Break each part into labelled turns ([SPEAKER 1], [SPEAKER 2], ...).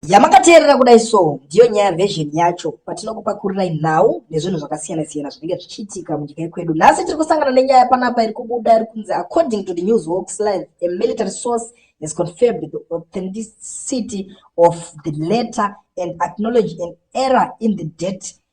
[SPEAKER 1] Yamakateerera kudai so ndiyo nyaya version yacho patinokupakurirai nhau nezvinhu zvakasiyana siyana zvinenge zvichiitika munyika yekwedu. Nhasi tiri kusangana nenyaya panapa iri kubuda iri kunzi according to the news walks live a military source has confirmed the authenticity of the letter and acknowledge an error in the date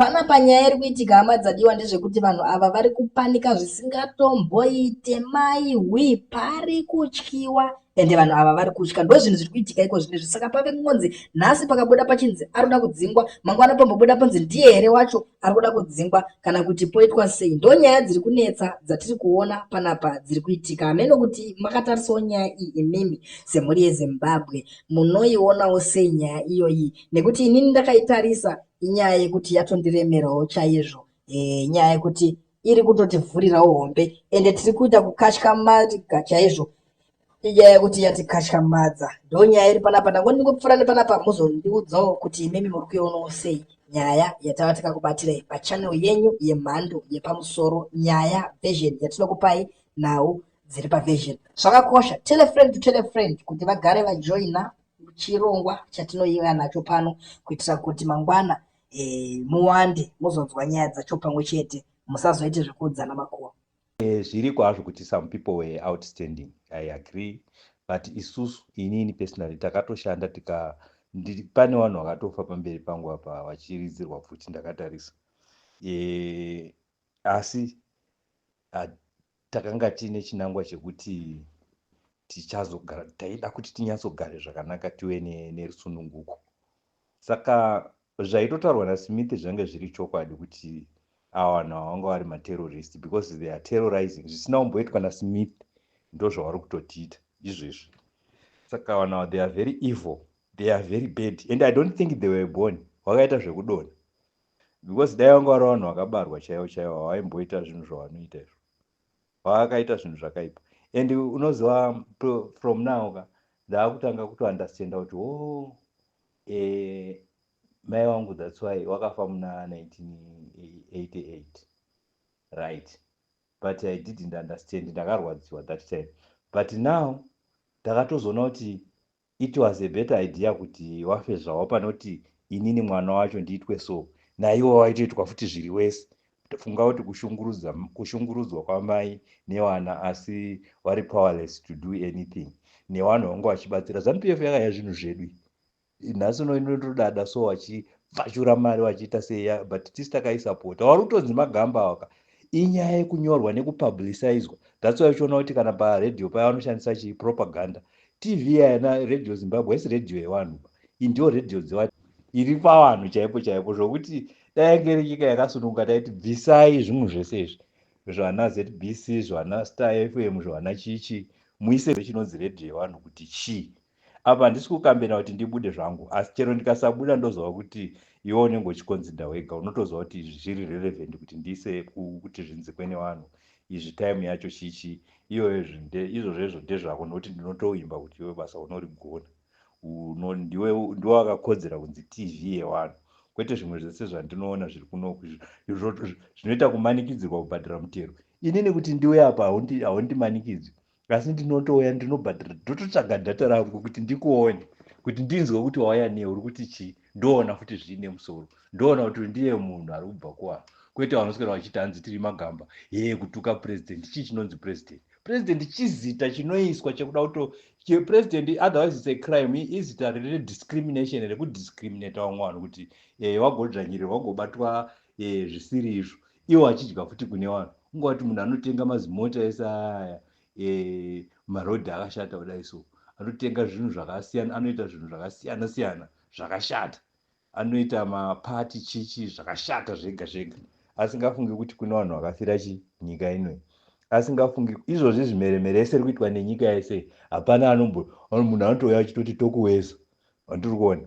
[SPEAKER 1] Panapa nyaya iri kuitika hama dzadiwa ndezvekuti vanhu ava vari kupanika zvisingatomboite mai hwi pari kutyiwa ende vanhu ava vari kutya ndo zvinhu zviri kuitika iko zvine izvi saka pave kungonzi nhasi pakabuda pachinzi ari kuda kudzingwa mangwana pambobuda panzi ndiye here wacho ari kuda kudzingwa kana kuti poitwa sei ndo nyaya dziri kunetsa dzatiri kuona panapa dziri kuitika hameno kuti makatarisawo nyaya iyi imimi semhuri yezimbabwe munoionawo sei nyaya iyoyi nekuti inini ndakaitarisa Inyaya yekuti yatondiremerawo chaizvo eh, nyaya yekuti iri kutotivhurirawo hombe ende tiri kuita kukatyamadza chaizvo inyaya yekuti yatikatyamadza ndo nyaya iri panapa ndango ndingopfuura nepanapa muzondiudzawo kuti imimi muri kuionawo sei nyaya yatava tikakubatirei pachanel yenyu yemhando yepamusoro nyaya version yatinokupai nhau dziri paversion zvakakosha telefriend to telefriend kuti vagare vajoina chirongwa chatinoiva nacho pano kuitira kuti mangwana e, muwande muzonzwa nyaya dzacho pamwe chete musazoite zvekuudzana makuwa e, eh, zviriko hazvo
[SPEAKER 2] kuti some people were outstanding i agree but isusu inini personally takatoshanda tika pane vanhu vakatofa pamberi pangu apa vachiridzirwa pfuti ndakatarisa e, asi Takanga tiine chinangwa chekuti tichazogara taida kuti tinyatsogare zvakanaka tive nerusununguko ne saka zvaitotaurwa nasmith zvange zviri chokwadi kuti ava vanhu ava vanga vari materrorist because they are terrorizing zvisina kumboitwa nasmith ndozvavari kutotiita izvezvi saka vanhu ava they are very evil they are very bad and i don't think they were born vakaita zvekudona because dai vanga vari vanhu vakabarwa chaivo chaivo havaimboita zvinhu zvavanoita izvo vaakaita zvinhu zvakaipa and unoziva from now ka ndaakutanga kutounderstanda kuti o oh, e, mai wangu thats why wakafa muna 1988 right but i didn't understand ndakarwadziwa that time but now ndakatozoona kuti It was a better idea kuti wafe zvawo panoti inini mwana wacho ndiitwe so. Naiwo waitoitwa futi zviri worse. Funga kuti kushungurudza, kushungurudzwa kwamai newana asi vari powerless to do anything. Newanhu vanga vachibatsira. Zanu PF yakaya zvinhu zvedu. Nhasi uno inotodada so vachipfachura mari vachiita seya but tisu takaisapota. Wari kutonzi magamba awaka. inyaya yekunyorwa nekupublicizwa that's why uchiona kuti kana paradio paya vanoshandisa chii propaganda tv yana radio zimbabwe haisi radio yevanhu iyi ndiyo radio dzevanhu iri pavanhu chaipo chaipo zvokuti dayange iri nyika yakasununguka taiti bvisai zvimwe zvese izvi zvana zbc zvana star fm zvana chichi muise chinonzi radio yevanhu kuti chii apa handisi kukambena kuti ndibude zvangu asi chero ndikasabuda ndozova kuti iwe unenge uchikonzinda wega unotozova kuti izvi zviri relevant kuti ndiise kuti zvinzikwe nevanhu izvi time yacho chichi iyoyo izvozvezvo ndezvako nokuti ndinotoimba kuti iwe basa unorigona ndiwe ndiwe wakakodzera kunzi tv yevanhu kwete zvimwe zvese zvandinoona zviri kunoku zvinoita kumanikidzirwa kubhadhara mutero inini kuti ndiwe apa haundimanikidzwi asi ndinotouya ndinobhadhara ndototsvaga dhata rangu kuti ndikuone kuti ndinzwe kuti wauya nei uri kuti chii ndoona futi zviine musoro ndoona kuti ndiye munhu ari kubva kuvanhu kwete vanoswera vachiti hanzi tiri magamba hee kutuka purezidendi chii chinonzi purezidendi purezidendi chizita chinoiswa chekuda kuto purezidendi otherwise its a crime izita rine discrimination rekudiscriminata vamwe vanhu kuti eh, wagodzvanyirirwa wagobatwa eh, zvisiri izvo iwo achidya futi kune vanhu ungawati munhu anotenga mazimota ese aya e, marodhi akashata kudai so anotenga zvinhu zvakasiyana anoita zvinhu zvakasiyana siyana zvakashata anoita mapati chichi zvakashata zvega zvega asingafungi kuti kune vanhu vakafira chi nyika inoi asingafungi izvozvi zvimeremere ese ri kuitwa nenyika yese hapana anombo munhu anotouya achitoti tokuweza vandiri kuona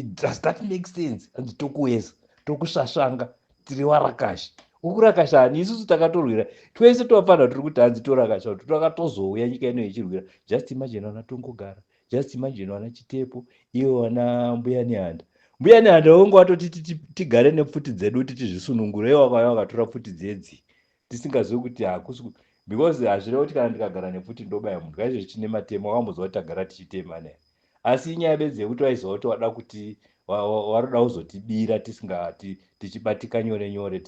[SPEAKER 2] does that make sense hanzi tokuweza tokusvasvanga tiri varakashi ukurakasha ani isusu takatorwira twese tovafanira tiri kuti hanzi torakasha kuti twakatozouya nyika ino yechirwira just imagine vana tongogara just imagine vana chitepo ivo vana mbuya nehanda mbuya nehanda vonge vatoti tigare nepfuti dzedu kuti tizvisunungure ivo vakauya vakatora pfuti dzedzi tisingazivi kuti hakusi because hazvina kuti kana ndikagara nepfuti ndobaya munhu kaizvozvi tine matemo akamboziva kuti tagara tichitema ne asi inyaya bedzi yekuti vaiziva kuti wada kuti waroda kuzotibira tisingati tichibatika nyore nyore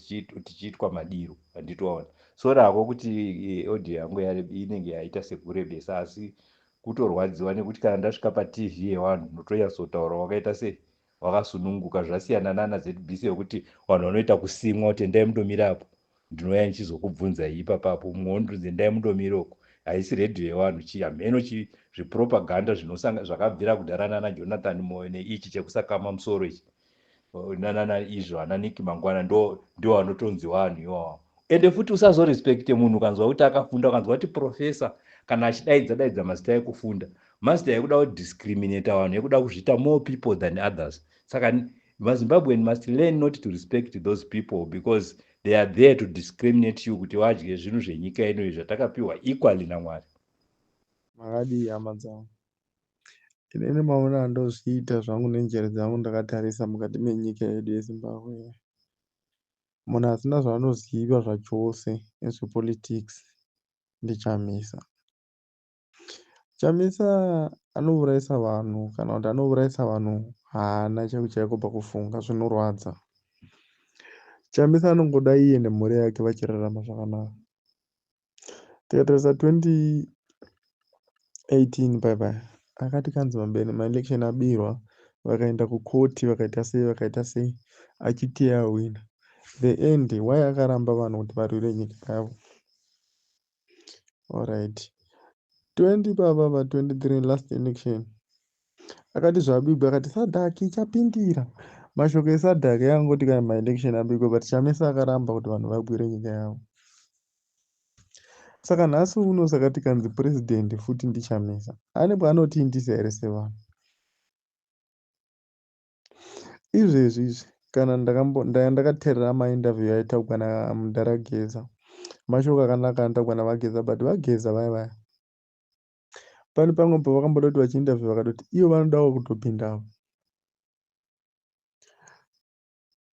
[SPEAKER 2] tichiitwa madiro anditoona so rako kuti eh, audio yangu inenge yaita sekurebesa asi kutorwadziwa nekuti kana ndasvika patv yevanhu notonyatsotaura wakaita sei wakasununguka zvasiyana nana zbc wekuti vanhu vanoita kusimwa kuti endai mundomira apo ndinouya ndichizokubvunzai ipapapo mumwe wondinzi endai mundomira uku haisi redhiyo yevanhu chii hameno chii zvipropaganda zvakabvira kudhara nana jonathan moyo neichi chekusakama musoro ichi nanana izvo ana niki mangwana ndo ndiwo anotonzi vanhu iwawa ende futi usazorespekte munhu ukanzwa kuti akafunda ukanzwa kuti profesa kana achidaidza daidza mazita ekufunda Master yekuda ku discriminator vanhu yekuda kuzviita more people than others. Saka vaZimbabwean must learn not to respect those people because they are there to discriminate you kuti vadye zvinhu zvenyika ino izvi zvatakapiwa equally naMwari. Makadii
[SPEAKER 3] hama dzangu? Inini maona andozviita zvangu nenjere dzangu ndakatarisa mukati menyika yedu yeZimbabwe. Munhu asina zvaanoziva zvachose nezvepolitics ndichamisa. Chamisa anouraisa vanhu kana kuti anouraisa vanhu haana chaiko chaiko pakufunga zvinorwadza. Chamisa anongoda iye nemhuri yake vachirarama zvakanaka. Tikatarisa 2018 paya paya akati kanzi mambene maelection abirwa vakaenda kukoti vakaita sei vakaita sei achiti ahwina the end why akaramba vanhu kuti varwire nyika yavo Alright. 20 baba ba 23 last election. Akati zvabigwa akati Sadak ichapindira. Mashoko eSadak yangoti kana ma election abigwa but Chamisa akaramba kuti vanhu vabwire nyika yavo. Saka nhasi uno saka tikanzi president futi ndiChamisa. Ane paanotindisa here sevanhu? izvezvi izvi kana ndaya ndakaterera mainterview yaitaugwa namudhara geza mashoko akanaka anotaugwa navageza but vageza vaya vaya pane pamwe pavakamboda kuti vachiinterview vakatoti ivo vanodawo kutopindawo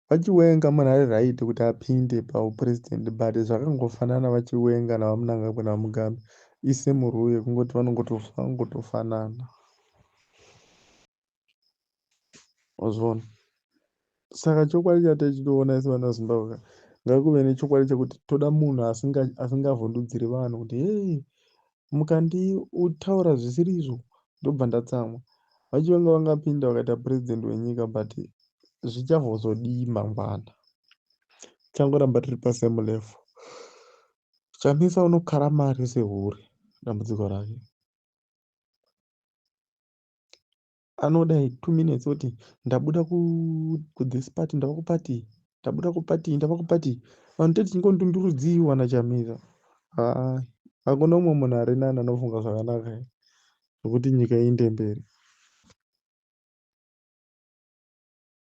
[SPEAKER 3] VaChiwenga munhu ari right kuti apinde pahupresident but zvakangofanana vaChiwenga naVaMnangagwa naVaMugabe isame rule kungoti vanongotofanana wazviona saka chokwadi chatai chitoona isi vana vezimbabwe ka ngakuve nechokwadi chekuti toda munhu asingavhundudziri vanhu kuti hei mukandiutaura zvisiri izvo ndobva ndatsamwa vacho vanga vangapinda vakaita president wenyika but zvichavozodii mangwana tichangoramba tiri pasame level chamisa unokara mari sehure dambudziko rake anoda two minutes oti ndabuda kuthis party ndava kupati ndabuda kupati ndava kupati vanhu tati tingondundurudzii wana chamisa haa hakuna umwe munhu ari nani anofunga zvakanaka zvekuti nyika iinde mberi